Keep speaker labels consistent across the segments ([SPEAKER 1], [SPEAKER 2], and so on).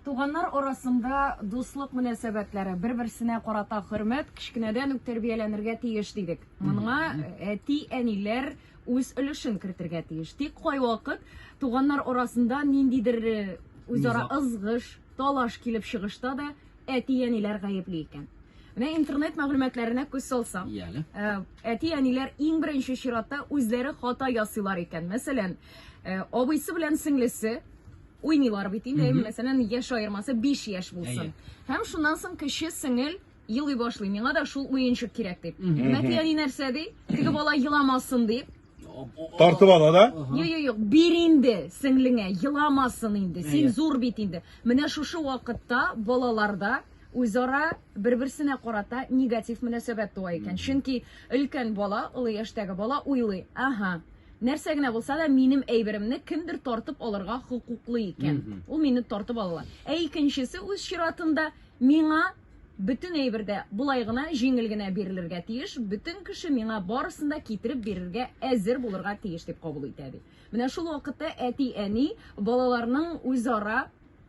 [SPEAKER 1] Туганнар арасында дуслык мөнәсәбәтләре, бер-берсенә карата хөрмәт кечкенәдән үк тәрбияләнергә тиеш дидек. Моныңа әти-әниләр үз өлешен кертергә тиеш. Тик кайвакыт туганнар арасында ниндидер э, үзара ызгыш, талаш килеп чыгышта да әти-әниләр гаепли икән. Менә интернет мәгълүматларына күз салсам, Яле. Э, әти-әниләр иң беренче чиратта үзләре хата ясыйлар икән. Мәсәлән, э, абыйсы белән сеңлесе Уйныйлар бит инде, Мгм. мәсәлән, яшь аермасы 5 яшь булсын. Әйе. Һәм шуннан соң кече сеңел елый башлый, миңа да шул уенчык кирәк дип. Мгм. Мәти әни нәрсә ди? Теге бала еламасын дип. Тартып
[SPEAKER 2] ала да? Ага. Юк, юк, юк, бир
[SPEAKER 1] инде сеңлеңә, еламасын инде. Син Әйе. зур бит инде. Менә шушы вакытта балаларда үзара бер-берсенә карата негатив мөнәсәбәт туа икән. Чөнки өлкән бала, олы яшьтәге бала уйлый, ага, Нәрсә генә булса да минем әйберемне кемдер тартып алырга хокуклы икән. Ул мине тартып алалар. Ә икенчесе үз чиратында миңа бөтен әйбер дә болай гына җиңел генә бирелергә тиеш, бөтен кеше миңа барысын да китереп бирергә әзер булырга тиеш дип кабул итә бит. Менә шул вакытта әти-әни балаларның үзара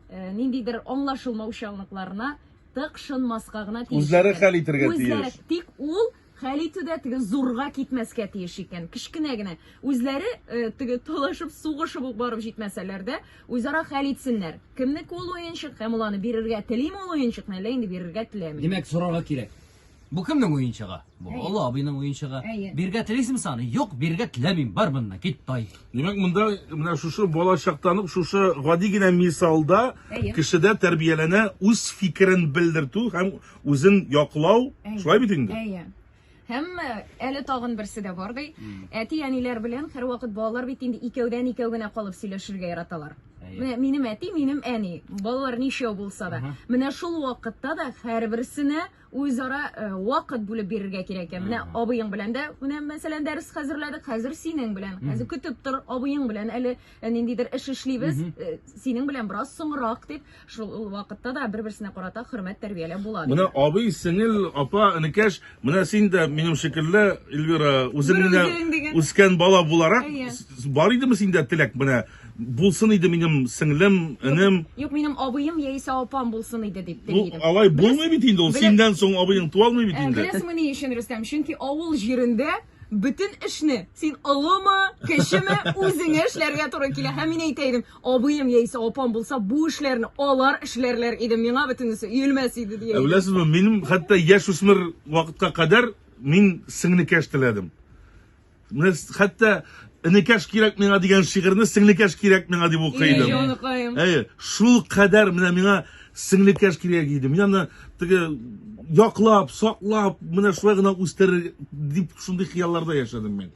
[SPEAKER 1] э, ниндидер аңлашылмаучанлыкларына тыкшынмаска гына тиеш. Үзләре хәл итергә тиеш.
[SPEAKER 2] Тик ул
[SPEAKER 1] Хәл итү дә теге зурга китмәскә тиеш икән. Кечкенә генә. Үзләре э, теге талашып, сугышып ук барып җитмәсәләр дә, үзара хәл итсеннәр. Кемнеке ул уенчык һәм ул аны бирергә телиме ул уенчыкны, әллә инде бирергә теләми. Димәк, сорарга кирәк.
[SPEAKER 3] Бу кемнең уенчыгы? Бу Әйе. Олы абыйның уенчыгы. Әйе. Бирергә телисең саны? Юк, бирергә теләмим. Бар моннан, кит, тай. Димәк, монда
[SPEAKER 2] менә шушы бала чактан ук шушы гади генә мисалда Әйе. кешедә тәрбияләнә үз фикерен белдертү һәм Үзен яклау, шулай бит инде? Әйе. Һәм
[SPEAKER 1] әле тагын берсе дә бар ди. Әти-әниләр белән һәрвакыт балалар бит инде икәүдән икәү генә калып сөйләшергә яраталар. Менә минем әти, минем әни. Балалар ничәү булса да. Менә шул вакытта да һәрберсенә үзара э, вакыт бүлеп бирергә кирәк икән. Менә абыең белән дә, менә мәсәлән, дәрес хәзерләдек, хәзер синең белән. Хәзер көтеп тор, абыең белән әле э, ниндидер эш эшлибез, э, синең белән бераз соңрак дип. Шул ул вакытта да бер-берсенә карата хөрмәт тәрбияләп була. диде. Менә абый, сеңел,
[SPEAKER 2] апа, энекәш, менә син дә минем шикелле, Эльвира, үзең Бер менә үзең дигән. үскән бала буларак, Әйе. с- с- бар идеме синдә теләк менә? Булсын иде минем сеңлем, энем. Юк, минем абыем
[SPEAKER 1] яисә апам булсын иде дип Бу телидем. алай булмый бит инде
[SPEAKER 2] ул. белә- Синдән соң абыең туа алмый бит Ә, инде. Беләсеңме ни өчен, Рөстәм?
[SPEAKER 1] Чөнки авыл җирендә бөтен эшне син олымы, кечеме, үзеңә эшләргә туры килә. Һәм мин әйтә идем, Абыем яисә апам булса, бу эшләрне алар эшләрләр иде, миңа бөтенесе өелмәс иде, дия Ә иде. беләсезме, минем хәтта
[SPEAKER 2] яшүсмер вакытка кадәр мин сеңлекәш теләдем. Менә с- хәтта энекәш кирәк миңа дигән шигырьне сеңлекәш кирәк миңа дип укый Эй, идем. җаныкаем. Әйе, шул кадәр менә миңа сеңлекәш кирәк иде. Мин аны теге яклап, саклап, менә шулай гына үстерер дип шундый хыялларда яшәдем мин.